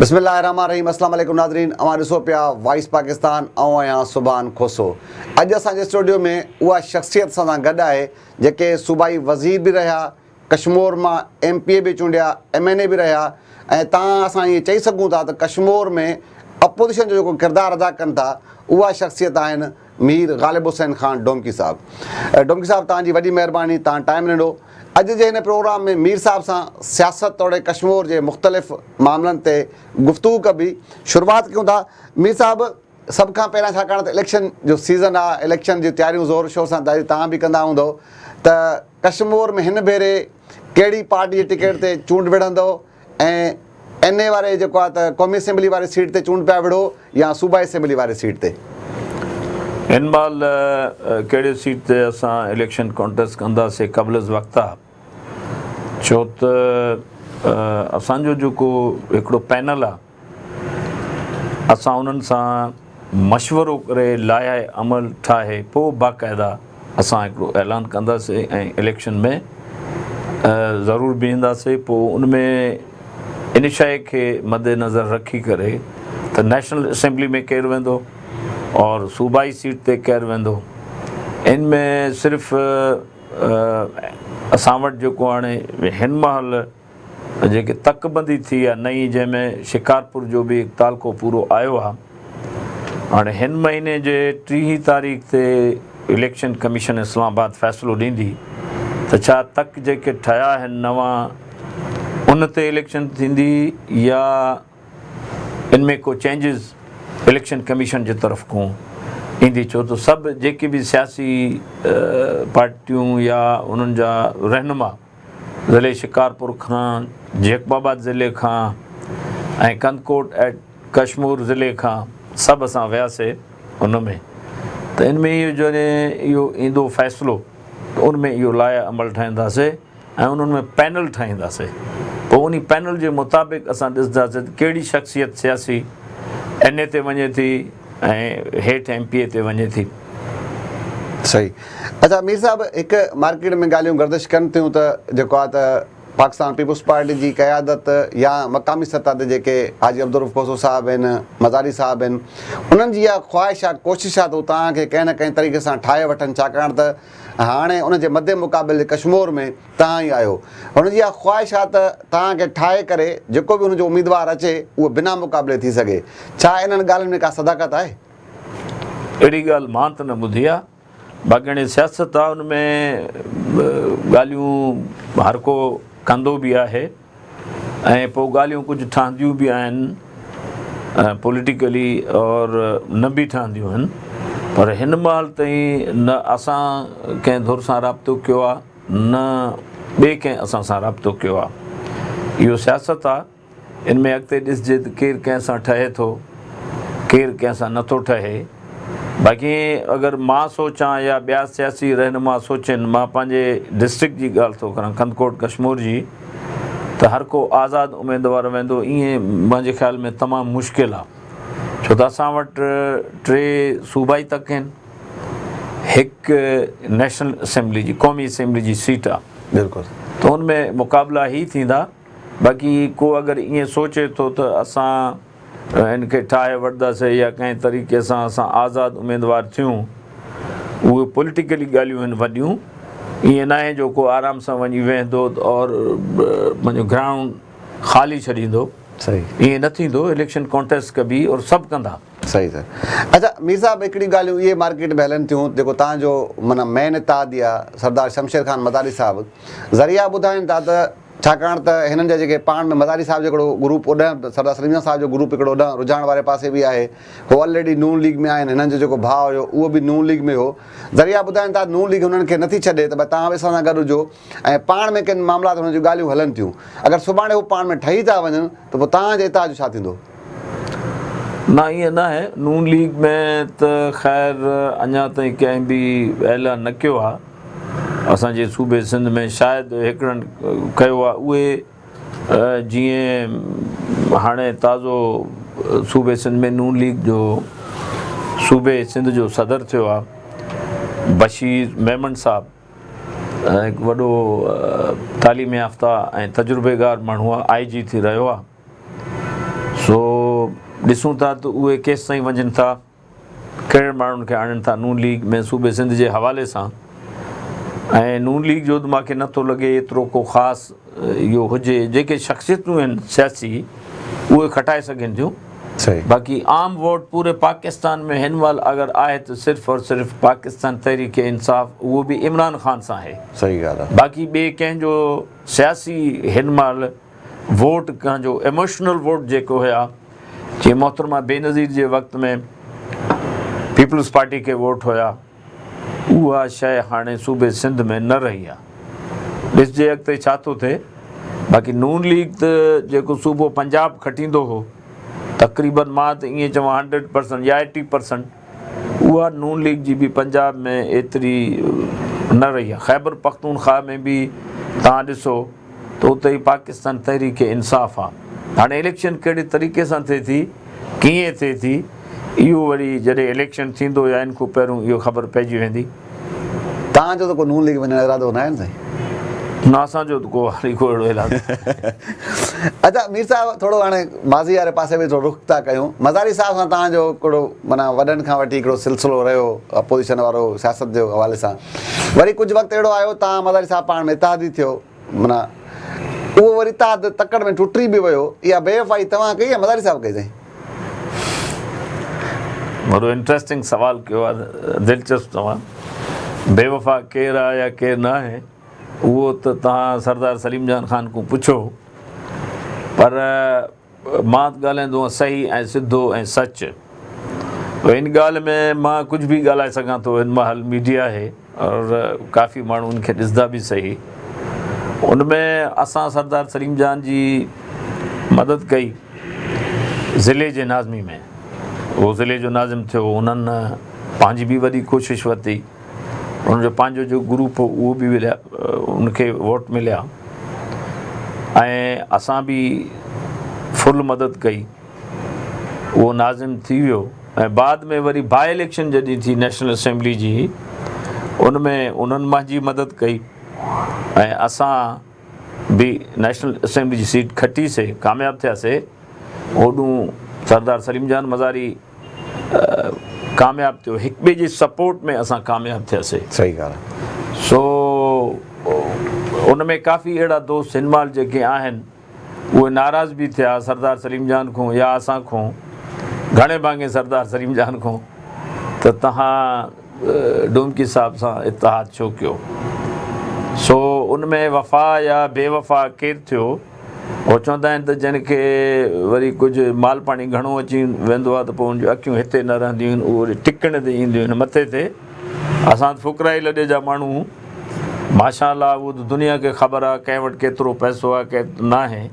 بسم الله الرحمن الرحيم السلام عليڪم ناظرين اوهان ڏسو پيا وائس پاڪستان آئون آهيان سبحان کوسو اڄ اسان جي اسٽوڊيو ۾ اها شخصيت سان گڏ آهي جيڪي صوبائي وزير به رهيا ڪشمور مان ايم پي اي به چونڊيا ايم اين اي به رهيا ۽ تان اسان ائين چئي سگهون ٿا ته ڪشمور ۾ اپوزيشن جو جيڪو ڪردار ادا ڪن ٿا اها شخصيت آهن مير غالب حسين خان ڊومڪي صاحب. ڊومڪي صاحب توهان جي وڏي مهرباني توهان ٽائيم ڏنو. اڄ جي هن پروگرام ۾ مير صاحب سان سياست توڙي ڪشمور جي مختلف معاملن تي گفتگو ڪبي. شروعات ڪيون ٿا مير صاحب سڀ کان پهريان ڇاڪاڻ ته اليڪشن جو سيزن آ اليڪشن جون تياريون زور شور سان دادي توهان به ڪندا هوندؤ ته ڪشمور ۾ هن ڀيري ڪهڙي پارٽي جي ٽڪيٽ تي چونڊ وڙهندؤ ۽ NA واري جيڪو آ ته قومي اسيمبلي واري سيٽ تي چونڊ پيا وڙهو يا صوبائي اسيمبلي واري سيٽ تي. هن مهل ڪهڙي سيٽ تي اسان اليڪشن ڪونٽيسٽ ڪنداسي قبل از وقت آ ڇو ته اسان جو جيڪو هڪڙو پينل آ. اسان انهن سان مشورو ڪري لائحه عمل ٺاهي پوء باقاعده اسان هڪڙو اعلان ڪنداسين ۽ اليڪشن ۾ ضرور بيهنداسين پوء ان ۾ ان شئي کي مدنظر رکي ڪري ته نيشنل اسيمبلي ۾ ڪير ويندو اور صوبائي سيٽ تي ڪير ويندو ان ۾ صرف اسان وٽ جيڪو هاڻي هن مهل جيڪي تڪ بندي ٿي آ نئين جنهن ۾ شڪارپور جو به هڪ تعلقو پورو آيو آ هاڻي هن مهيني جي ٽيهين تاريخ تي اليڪشن ڪميشن اسلام آباد فيصلو ڏيندي ته ڇا تڪ جيڪي ٺهيا آهن نوان ان تي اليڪشن ٿيندي يا ان ۾ ڪو چينجز اليڪشن ڪميشن جي طرف کون ايندي ڇو ته سڀ جيڪي به سياسي پارٽيون يا انهن جا رهنما ضلعي شڪارپور کان، جيڪب آباد ضلعي کان ۽ ڪنڌڪوٽ ايٽ ڪشمور ضلعي کان سڀ اسان وياسي ان ۾ ته ان ۾ اهو جڏهن اهو ايندو فيصلو ته ان ۾ اهو لائحه عمل ٺاهينداسي ۽ انهن ۾ پينل ٺاهينداسي پوء انهي پينل جي مطابق اسان ڏسنداسي ته ڪهڙي شخصيت سياسي اين اي تي وڃي ٿي ۽ هيٺ ايم پي اي تي وڃي ٿي. صحيح اچا مير صاحب هڪ مارڪيٽ ۾ ڳالهيون گردش ڪن ٿيون ته جيڪو آهي ته پاڪستان پيپلز پارٽي جي قيادت يا مقامي سطح تي جيڪي حاجي عبدالروف کوسو صاحب آهن مزاري صاحب آهن انهن جي اها خواهش آهي ڪوشش آهي ته هو توهان کي ڪنهن نه ڪنهن طريقي سان ٺاهي وٺن ڇاڪاڻ ته هاڻي ان جي مدي مقابل ڪشمور ۾ توهان ئي آهيو. هن جي اها خواهش آهي ته توهان کي ٺاهي ڪري جيڪو به هن جو اميدوار اچي اهو بنا مقابلي ٿي سگهي. ڇا انهن ڳالهين ۾ ڪا صداقت آهي؟ اهڙي ڳالهه مان ته نه ٻڌي آهي. باقي هاڻي سياست آهي ان ۾ ڳالهيون هر ڪو ڪندو به آهي ۽ پوء ڳالهيون ڪجهه ٺهنديون به آهن پوليٽيڪلي اور نه به ٺهنديون آهن پر هن مهل تائين نه اسان ڪنهن ڌر سان رابطو ڪيو آهي نه ٻئي ڪنهن اسان سان رابطو ڪيو آ. اهو سياست آ. ان ۾ اڳتي ڏسجي ته ڪير ڪنهن سان ٺهي ٿو، ڪير ڪنهن سان نه ٿو ٺهي. باقي اگر مان سوچان يا ٻيا سياسي رهنما سوچين، مان پنهنجي ڊسٽرڪٽ جي ڳالهه ٿو ڪران، ڪنڌڪوٽ ڪشمور جي، ته هر ڪو آزاد اميدوار ويندو ائين منهنجي خيال ۾ تمام مشڪل آ. ڇو ته اسان وٽ ٽي صوبائي تڪ هين. هڪ نيشنل اسيمبلي جي قومي اسيمبلي جي سيٽ آ بلڪل ته ان ۾ مقابلا هي ٿيندا باقي ڪو اگر ائين سوچي ٿو ته اسان ان کي ٺاهي وٺداسي يا ڪنهن طريقي سان اسان آزاد اميدوار ٿيون اهي پوليٽيڪلي ڳالهيون آهن وڏيون ائين ناهي جو ڪو آرام سان وڃي ويهندو اور پنهنجو گرائونڊ خالي ڇڏيندو صحيح ائين نه ٿيندو اليڪشن ڪانٽيسٽ ڪبي اور سڀ ڪندا صحيح صحيح اچا مير صاحب هڪڙي ڳالهيون اهي مارڪيٽ ۾ هلن ٿيون جيڪو تهان جو معنيٰ مين اتحادي آ سردار شمشير خان مزاري صاحب ذريعا ٻڌائين ٿا ته ڇاڪاڻ ته هنن جا جيڪي پاڻ ۾ مزاري صاحب جو هڪڙو گروپ اوڏانهن سردار سليم جان صاحب جو گروپ هڪڙو اوڏانهن رجحان واري پاسي به آهي هو آلريڊي نون ليگ ۾ آهن هنن جو جيڪو ڀاء هيو اهو به نون ليگ ۾ هو ذريعا ٻڌائين ٿا نون ليگ هنن کي نٿي ڇڏي ته ڀاء تهان به اسان سان گڏ هجو ۽ پاڻ ۾ ڪن معاملات هئڻ جون ڳالهيون هلن ٿيون. اگر سڀاڻي هو پاڻ ۾ ٺهي ٿا وڃن ته پوء توهان جي اتحاد جو ڇا ٿيندو؟ نه ائين ناهي، نون ليگ ۾ ته خير اڃا تائين ڪنهن به اعلان نه ڪيو آهي، اسان جي صوبي سنڌ ۾ شايد هڪڙن ڪيو آهي اهي جيئن هاڻي تازو صوبي سنڌ ۾ نون ليگ جو صوبي سنڌ جو صدر ٿيو آهي بشير ميمڻ صاحب، هڪ وڏو تعليم يافته ۽ تجربيڪار ماڻهو آء جي ٿي رهيو آ سو ڏسون ٿا ته اهي ڪيستائين وڃن ٿا ڪهڙن ماڻهن کي آڻين ٿا نون ليگ ۾ صوبي سنڌ جي حوالي سان ۽ نون ليگ جو ته ماکي نٿو لڳي ايترو ڪو خاص اهو هجي جيڪي شخصيتون آهن سياسي اهي کٽائي سگهن ٿيون باقي عام ووٽ پوري پاڪستان ۾ هن مهل اگر آهي ته صرف اور صرف پاڪستان تحريڪ انصاف اهو به عمران خان سان آهي باقي ٻي ڪنهن جو سياسي هن مهل ووٽ ڪنهن جو ايموشنل ووٽ جيڪو هيا جي محترمه بينظير جي وقت ۾ پيپلز پارٽي کي ووٽ هيا اها شيء هاڻي صوبي سنڌ ۾ نه رهي آ. ڏسجي اڳتي ڇا ٿو ٿئي. باقي نون ليگ ته جيڪو صوبو پنجاب کٽيندو هو تقريبن مان ته ائين چوان هنڊريڊ پرسنٽ يا ايٽي پرسنٽ اها نون ليگ جي به پنجاب ۾ ايتري نه رهي آ. خيبر پختونخواهه ۾ به توهان ڏسو. ته اتي ئي پاڪستان تحريڪ انصاف آ. هاڻي اليڪشن ڪهڙي طريقي سان ٿئي ٿي، ڪيئن ٿئي ٿي، اهو وري جڏهن اليڪشن ٿيندو يا ان کون پهريون اهو خبر پئجي ويندي. توهان جو ته ڪو نون ليگ وڃڻ جو ارادو ناهي نه سائين؟ نه اسان جو ته ڪو هاڻي ڪو اهڙو ايلاز ناهي. اچا مير صاحب ٿورو هاڻي ماضي واري پاسي به ٿورو رخ ٿا ڪيون. مزاري صاحب سان توهان جو ڪهڙو معنيٰ وڏن کان وٺي هڪڙو سلسلو رهيو اپوزيشن وارو سياست جي حوالي سان؟ وري ڪجهه وقت اهڙو آيو تان مزاري صاحب پاڻ ۾ اتحادي ٿيو. معنيٰ اهو وري اتحاد تڪڙ ۾ ٽٽي به ويو. اها بي وفائي توهان ڪئي يا مزاري صاحب ڪئي سائين؟ وڏو انٽريسٽنگ سوال ڪيو آهي دلچسپ توهان. بي وفا ڪير آهي يا ڪير نه آهي اهو ته توهان سردار سليم جان خان کون پڇو پر مان ڳالهائيندو هئس صحيح ۽ سڌو ۽ سچ. پر ان ڳالهه ۾ مان ڪجهه به ڳالهائي سگهان ٿو هن مهل ميڊيا آهي اور ڪافي ماڻهو ان کي ڏسندا به صحيح ان ۾ اسان سردار سليم جان جي مدد ڪئي ضلعي جي ناظمي ۾ هو ضلعي جو ناظم ٿيو انهن پنهنجي به وڏي ڪوشش ورتي. ان جو پنهنجو جو گروپ هو اهو به ولهيا ان کي ووٽ مليا ۽ اسان به فل مدد ڪئي اهو ناظم ٿي ويو ۽ بعد ۾ وري باء اليڪشن جڏهن ٿي نيشنل اسيمبلي جي ان ۾ انهن منهنجي مدد ڪئي ۽ اسان به نيشنل اسيمبلي جي سيٽ کٽيسي ڪامياب ٿياسي اوڏون سردار سليم جان مزاري ڪامياب ٿيو هڪ ٻئي جي سپورٽ ۾ اسان ڪامياب ٿياسي صحيح ڳالهه آهي سو ان ۾ ڪافي اهڙا دوست هن مال جيڪي آهن اهي ناراض به ٿيا سردار سليم جان کون يا اسان کون گهڻي ڀاڱي سردار سليم جان کون ته تهان ڊومڪي صاحب سان اتحاد ڇو ڪيو سو ان ۾ وفا يا بي وفا ڪير ٿيو هو چوندا آهن ته جنهن کي وري ڪجهه مال پاڻي گهڻو اچي ويندو آهي ته پوء ان جون اکيون هتي نه رهنديون آهن، اهي وري ٽڪڻ تي اينديون آهن. مٿي تي اسان ته فقرائي لڏي جا ماڻهو آهيون. ماشاء الله اهو ته دنيا کي خبر آهي ڪنهن وٽ ڪيترو پئسو آهي ڪنهن وٽ ناهي.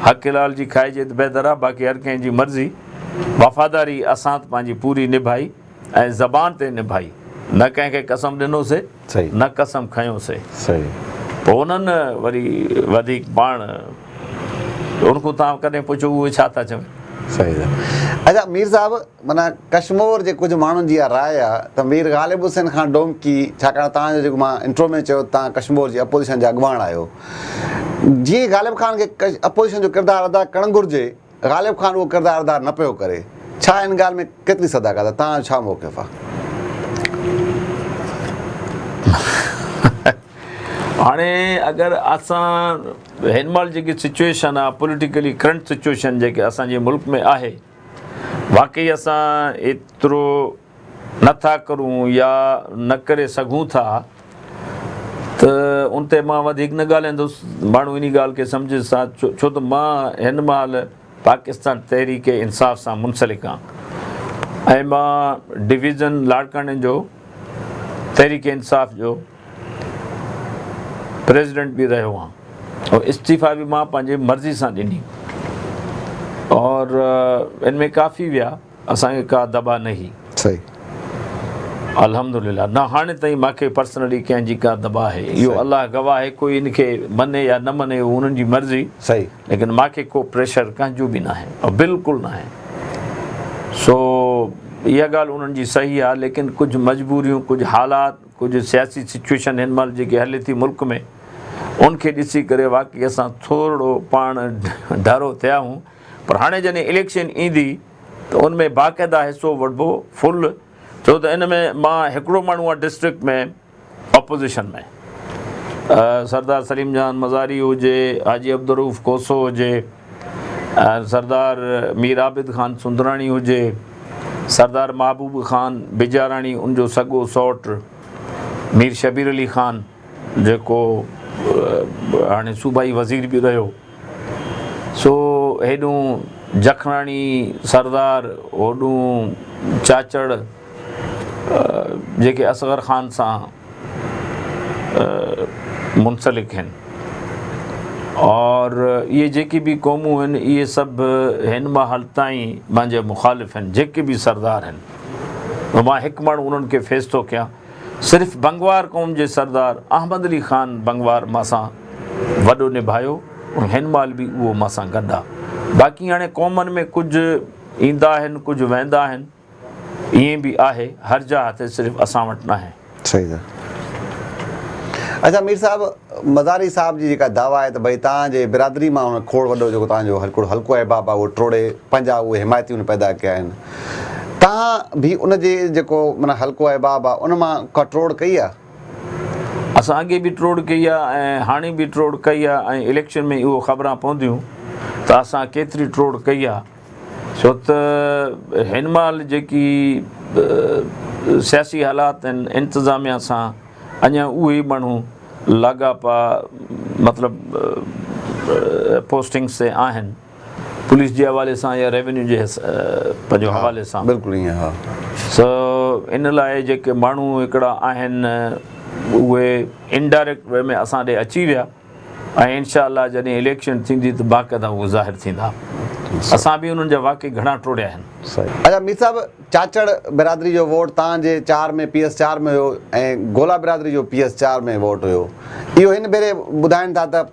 حق حلال جي کائجي ته بهتر آهي باقي هر ڪنهن جي مرضي. وفاداري اسان ته پنهنجي پوري نڀائي ۽ زبان تي نڀائي. نه ڪنهن کي قسم ڏنوسي. نه قسم کنيو سي. پوء انهن وري وڌيڪ پاڻ ان کون تان ڪڏهن پڇيو اهي ڇا ٿا چون؟ صحيح صحيح اچا مير صاحب معنيٰ ڪشمور جي ڪجهه ماڻهن جي اها راء آهي ته مير غالب حسين خان ڊومڪي ڇاڪاڻ تان جو جيڪو مان انٽرو ۾ چيو تان ڪشمور جي اپوزيشن جا اڳواڻ آهيو جيئن غالب خان کي اپوزيشن جو ڪردار ادا ڪرڻ گهرجي غالب خان اهو ڪردار ادا نه پيو ڪري، ڇا ان ڳالهه ۾ ڪيتري صداقت آهي، توهان جو ڇا موقف آهي؟ هاڻي اگر اسان هن مهل جيڪي سچوئيشن آهي پوليٽيڪلي ڪرنٽ سچوئيشن جيڪي اسان جي ملڪ ۾ آهي واقعي اسان ايترو نه ٿا ڪرون يا نه ڪري سگهون ٿا ته ان تي مان وڌيڪ نه ڳالهائيندس. ماڻهو انهي ڳالهه کي سمجهي سا ڇو ته مان هن مهل پاڪستان تحريڪ انصاف سان منسلڪ آهن ۽ مان ڊويزن لاڙڪاڻي جو تحريڪ انصاف جو پريزيڊنٽ به رهيو آهن ۽ استعيفا به مان پنهنجي مرضي سان ڏني اور ان ۾ ڪافي ويا. اسان کي ڪا دٻا نهي. صحيح. الحمدلله نه هاڻي تائين ماکي پرسنلي ڪنهن جي ڪا دٻا آهي اهو الله گواهه آهي ڪوئي ان کي مڃي يا نه مڃي اهو انهن جي مرضي صحيح ليڪن ماکي ڪو پريشر ڪنهن جو به ناهي او بلڪل ناهي سو اها ڳالهه انهن جي صحيح آهي ليڪن ڪجهه مجبوريون ڪجهه حالات ڪجهه سياسي سچويشن هن مهل جيڪي هلي ٿي ملڪ ۾ ان کي ڏسي ڪري واقعي اسان ٿورڙو پاڻ ڍرو ٿيا آهون پر هاڻي جڏهن اليڪشن ايندي ته ان ۾ باقاعده حصو وٺبو فل ڇو ته ان ۾ مان هڪڙو ماڻهو آهيان ڊسٽرڪٽ ۾ اپوزيشن ۾ سردار سليم جان مزاري هجي حاجي عبدالروف کوسو هجي سردار مير عابد خان سندراڻي هجي سردار محبوب خان بجاراڻي ان جو سڳو سئوٽ مير شبير علي خان جيڪو هاڻي صوبائي وزير به رهيو سو هيڏون جکڻاڻي سردار هوڏون چاچڙ جيڪي اصغر خان سان منسلڪ هن اور اهي جيڪي به قومون هن اهي سڀ هن مهل تائين مانجي مخالف هن جيڪي به سردار هن مان هڪ ماڻهو انهن کي فيس ٿو ڪيان صرف بنگوار قوم جي سردار احمد علي خان بنگوار مان سان وڏو نڀايو ۽ هن مهل به اهو مان سان گڏ آ باقي هاڻي قومن ۾ ڪجهه ايندا آهن ڪجهه ويندا آهن ائين به آهي هر جا هٿي صرف اسان وٽ ناهي. صحيح سر اچا مير صاحب مزاري صاحب جي جيڪا دعويٰ آهي ته ڀئي تان جي برادري مان هن کوڙ وڏو جيڪو تان جو هڪڙو حلقو احباب آ اهو ٽوڙي پنهنجا اهي حمايتي هن پيدا ڪيا آهن. توهان به ان جي جيڪو معنيٰ حلقو احباب آ ان مان ڪا ٽوڙ ڪئي آ؟ اسان اڳي به ٽوڙ ڪئي آ ۽ هاڻي به ٽوڙ ڪئي آ ۽ اليڪشن ۾ اهو خبران پونديون ته اسان ڪيتري ٽوڙ ڪئي آ ڇو ته هن مهل جيڪي سياسي حالات آهن انتظاميا سان اڃا اهي ماڻهو لاڳاپا مطلب پوسٽنگس تي آهن. پوليس جي حوالي سان يا ريونيو جي پنهنجو حوالي سان بلڪل ائين ها سو ان لاء جيڪي ماڻهو هڪڙا آهن اهي انڊائريڪٽ وي ۾ اسان ڏي اچي ويا ۽ انشاء الله جڏهن اليڪشن ٿيندي ته باقاعده اهي ظاهر ٿيندا اسان به انهن جا واقعي گهڻا ٽوڙيا آهن اچا مير صاحب چاچڙ برادري جو ووٽ تان جي چار ۾ پي ايس چار ۾ هيو ۽ گولا برادري جو پي ايس چار ۾ ووٽ هيو اهو هن ڀيري ٻڌائن ٿا ته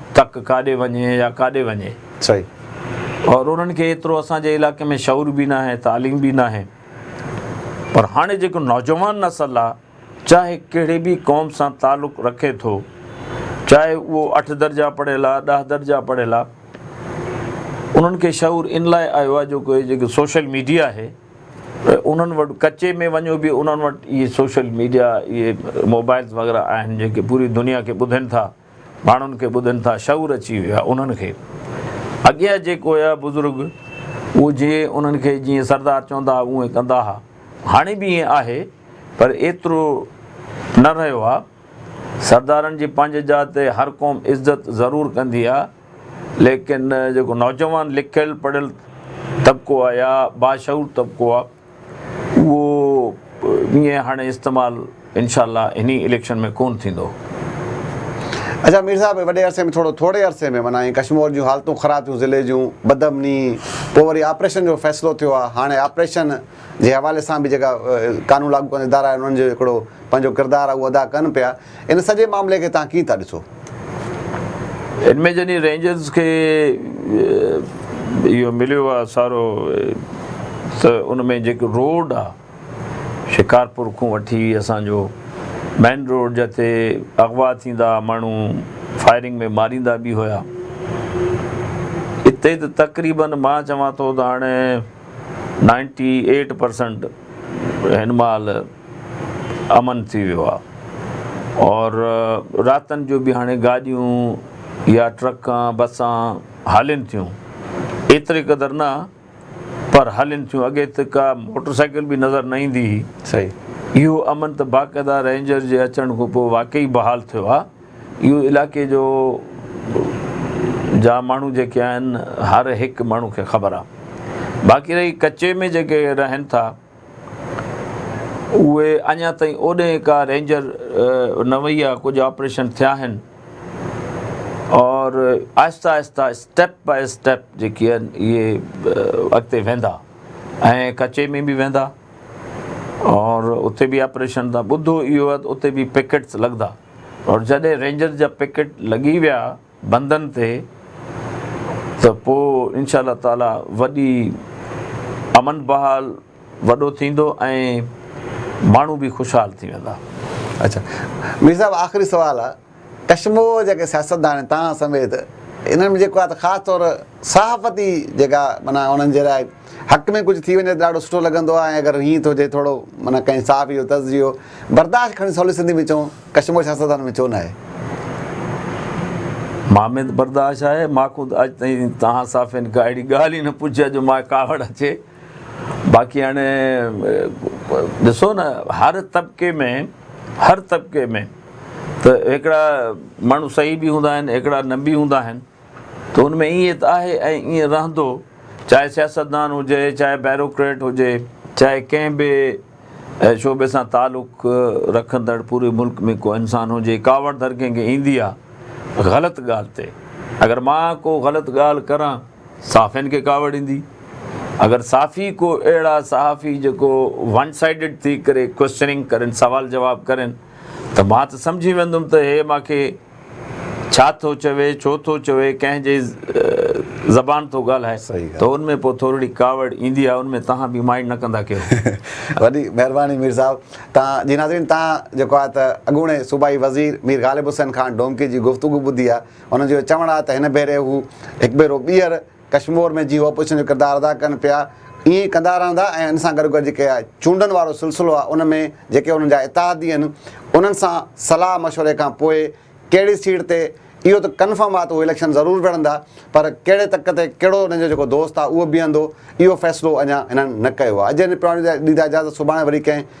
تڪ ڪاڏي وڃي يا ڪاڏي وڃي صحيح. اور انهن کي ايترو اسان جي علائقي ۾ شعور به ناهي تعليم به ناهي پر هاڻي جيڪو نوجوان نسل آ چاهي ڪهڙي به قوم سان تعلق رکي ٿو چاهي اهو اٺ درجا پڙهيل آ ڏهه درجا پڙهيل آ انهن کي شعور ان لاء آيو آ جو ڪوئي جيڪو سوشل ميڊيا آهي انهن وٽ ڪچي ۾ وڃو به انهن وٽ اهي سوشل ميڊيا اهي موبائلز وغيره آهن جيڪي پوري دنيا کي ٻڌين ٿا. ماڻهن کي ٻڌن ٿا شعور اچي ويو آهي انهن کي اڳيان جيڪو هيا بزرگ اهو جي انهن کي جيئن سردار چوندا هئا اهئين ڪندا ها هاڻي به اهئين آهي پر ايترو نه رهيو آهي سردارن جي پنهنجي جاء تي هر قوم عزت ضرور ڪندي آهي ليڪن جيڪو نوجوان لکيل پڙهيل طبقو آهي يا باشعور طبقو آهي اهو ائين هاڻي استعمال انشاء الله هني اليڪشن ۾ ڪون ٿيندو. اچا مير صاحب وڏي عرصي ۾ ٿورو ٿوري عرصي ۾ معنيٰ ائين ڪشمور جون حالتون خراب ٿيون ضلعي جون بدامني پوء وري آپريشن جو فيصلو ٿيو آ هاڻي آپريشن جي حوالي سان به جيڪا قانون لاڳو ڪندڙ ادارا آهن انهن جو هڪڙو پنهنجو ڪردار آ اهو ادا ڪن پيا ان سڄي معاملي کي توهان ڪيئن ٿا ڏسو؟ ان ۾ جڏهن رينجرز کي اهو مليو آهي سارو ته ان ۾ جيڪو روڊ آهي شڪارپور کون وٺي اسان جو مين روڊ جتي اغوا ٿيندا ماڻهو فائرنگ ۾ ماريندا به هيا اتي ته تقريبن مان چوان ٿو ته هاڻي نائنٽي ايٽ پرسنٽ هن مهل امن ٿي ويو آ اور راتن جو به هاڻي گاڏيون يا ٽرڪان بسان هلين ٿيون ايتري قدر نه پر هلين ٿيون اڳي ته ڪا موٽر سائيڪل به نظر نه ايندي هئي صحيح اهو امن ته باقاعده رينجر جي اچڻ کان پوء واقعي بحال ٿيو آ اهو علائقي جو جا ماڻهو جيڪي آهن هر هڪ ماڻهو کي خبر آ باقي رهي ڪچي ۾ جيڪي رهن ٿا اهي اڃا تائين اوڏهين ڪا رينجر نه وئي آهي ڪجهه آپريشن ٿيا آهن اور آهسته آهسته اسٽيپ بائي اسٽيپ جيڪي آهن اهي اڳتي ويندا ۽ ڪچي ۾ به ويندا اور اتي به آپريشن ٿا ٻڌو اهو اتي به پيڪيٽس لڳندا اور جڏهن رينجر جا پيڪيٽ لڳي ويا بندن تي ته پوء انشاء الله تعالي وڏي امن بحال وڏو ٿيندو ۽ ماڻهو به خوشحال ٿي ويندا. اچا مير صاحب آخري سوال آ ڪشموء جيڪي سياستدان تهان سميت انهن ۾ جيڪو آ ته خاص طور صحافتي جيڪا معنيٰ انهن جي لاء حق ۾ ڪجهه ٿي وڃي ته ڏاڍو سٺو لڳندو آ ۽ اگر هيئن ٿو جي ٿورو معنيٰ ڪنهن صحافي جو تجزيو برداشت کڻي سولي سنڌي ۾ چئون ڪشمور سياستدانن ۾ ڇو ناهي؟ مان ۾ ته برداشت آهي. مان خود اڄ تائين توهان صحافين کان اهڙي ڳالهه ئي نه پڇي آهي جو مان کي ڪاوڙ اچي. باقي هاڻي ڏسو نه هر طبقي ۾ هر طبقي ۾ ته هڪڙا ماڻهو صحيح به هوندا آهن هڪڙا نه به هوندا آهن. ته ان ۾ ائين ته آهي ۽ ائين رهندو، چاهي سياستدان هجي، چاهي بيروڪريٽ هجي، چاهي ڪنهن به شعبي سان تعلق رکندڙ پوري ملڪ ۾ ڪو انسان هجي، ڪاوڙ ڌر ڪنهن کي ايندي آ غلط ڳالهه تي، اگر مان ڪو غلط ڳالهه ڪران، صحافين کي ڪاوڙ ايندي، اگر صحافي ڪو اهڙا صحافي جيڪو ون سائيڊڊ ٿي ڪري ڪوئسچننگ ڪرين، سوال جواب ڪرين ته مان ته سمجهي ويندم ته هي مان کي. ڇا ٿو چوي، ڇو ٿو چوي، ڪنهن جي زبان ٿو ڳالهائي ته ان ۾ پوء ٿورڙي ڪاوڙ ايندي آهي ان ۾ تهان به مائنڊ نه ڪندا ڪيو. وڏي مهرباني مير صاحب تهان جي ناظرين تهان جيڪو آهي ته اڳوڻي صوبائي وزير مير غالب حسين خان ڊومڪي جي گفتگو ٻڌي آهي ان جو چوڻ آهي ته هن ڀيري هو هڪ ڀيرو ٻيهر ڪشمور ۾ جيئن اپوزيشن جو ڪردار ادا ڪن پيا ائين ئي ڪندا رهندا ۽ ان سان گڏوگڏ جيڪي چونڊن وارو سلسلو آهي ان ۾ جيڪي انهن جا اتحادي آهن انهن سان صلاح مشوري کان پوء ڪهڙي سيٽ تي اهو ته ڪنفرم آهي ته اهي اليڪشن ضرور وڙهندا پر ڪهڙي تڪ تي ڪهڙو انهن جو جيڪو دوست آهي اهو بيهندو اهو فيصلو اڃا هنن نه ڪيو آهي اڄ هن پراڻي ڏيندا اجازت سڀاڻي وري ڪنهن